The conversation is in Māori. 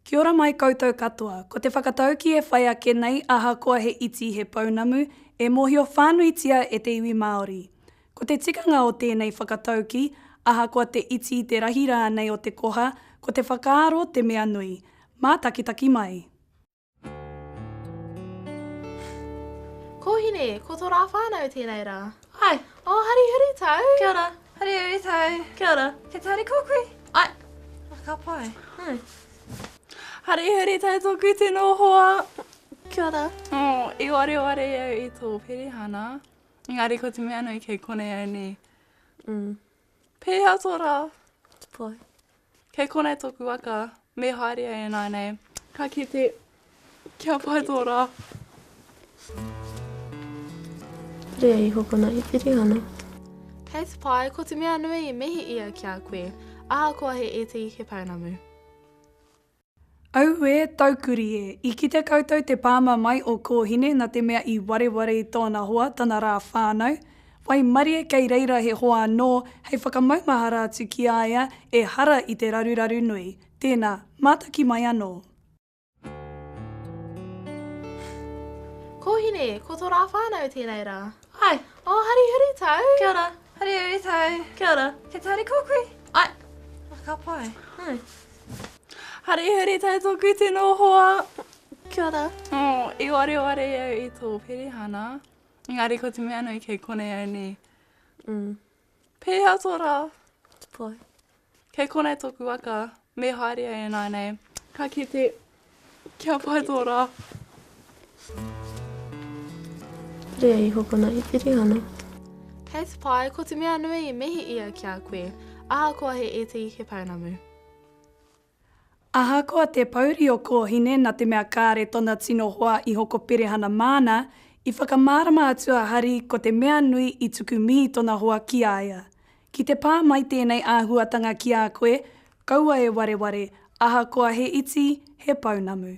Kia ora mai koutou katoa. Ko te whakataukī e whai ake nei ahakoa he iti he pounamu, e mōhio whānuitia e te iwi Māori. Ko te tikanga o tēnei whakataukī, ahakoa te iti te rahi rānei o te koha, ko te whakaaro te mea nui. Mātakitaki mai. Kōhine, ko tō rā whānau tēnei rā. Hai. O, oh, hari huritau. Kia ora. Hari huritau. Kia ora. Kia tāri kō kui. Ai. A, ka pai. Hmm. Hari huritau tōku tino hoa. Kia ora. Oh, i ware ware au i tō perihana. Ngāri ko te mea nui kei konei au nei. Mm. Pēhea tō rā? Pai. Kei konei tōku waka, me haere ai ināinei. Ka kite, kia pai tō rā. Rea i hokona i Pirihana. Kei te pai, ko te mea nui i mihi ia ki a koe. Ahakoa he iti, he pounamu. Auē taukuri e! I kite koutou te pāma mai o Kōhine na te mea i wareware i tōna hoa tana rā whānau. Waimarie kei reira he hoa anō hei whakamaumahara atu ki a ia e hara i te raruraru nui. Tēna, mātaki mai anō. Kōhine, Ko tō rā whānau tēnei rā. Ai. O, hari uri tau. Kia ora. Hari uri tau. Kia ora. He tauri kōkui? Ai. Ka pai. Hari hari tai toku tino hoa. Kia ora. Oh, I ware ware au i tō perehana. Engari ko te mea nui kei konei au nei. Mm. Pēhea tō rā? Te pai. Kei konei tōku waka. Me haere ai e nānei. Ka kite. Kia pai tō rā. Rea iho kona i Pirihana. Kei te pai, ko te mea nui i mihi ia ki a koe, ahakoa he iti he pounamu. Ahakoa te pouri o Kōhine na te mea kāre tona tino hoa iho ko Pirihana māna, i whakamārama atu a Hari ko te mea nui i tuku mihi tona hoa ki a ia. Ki te pā mai tēnei āhuatanga ki a koe, kaua e wareware, ahakoa he iti, he pounamu.